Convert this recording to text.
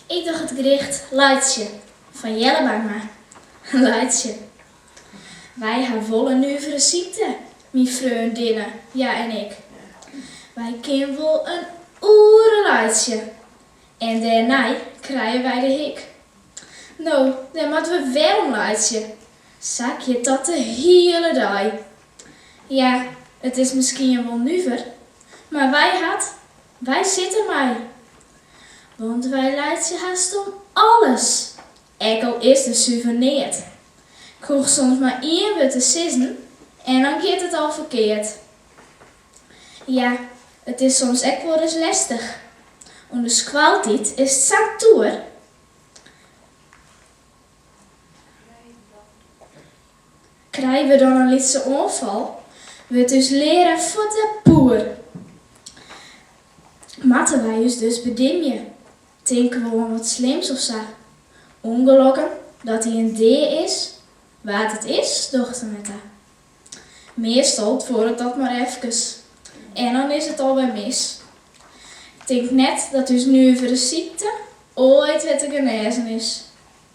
Ik doch it gedicht Laitsje fan Jelle Bangma. Laitsje. Wy ha wol in nuvere sykte, myn freondinne, hja en ik. Wy kinne wol in oere laitsje en dêrnei krije wy de hik. No, dêr moatte we werom laitsje. Sa giet dat de hiele dei. Ja, it is miskien wol nuver, mar wy hat Wy sitte mei, want wy laitsje hast om alles, ek al is der suver neat. 'k Hoech soms mar ien wurd te sizzen en dan giet it al ferkeard. Ja, it is soms ek wolris lestich. Under skoaltiid is it sa'n toer. Krije we dan in lytse oanfal, wurdt ús learaar fuort sa poer. Moatte wy ús dus bedimje, tinke we oan wat slims of sa. Ûngelokken, dat der ien dea is, wa't it is, docht er net ta. Meastal duorret dat mar efkes en dan is it alwer mis. Ik tink net dat ús nuvere sykte oait wer te genêzen is.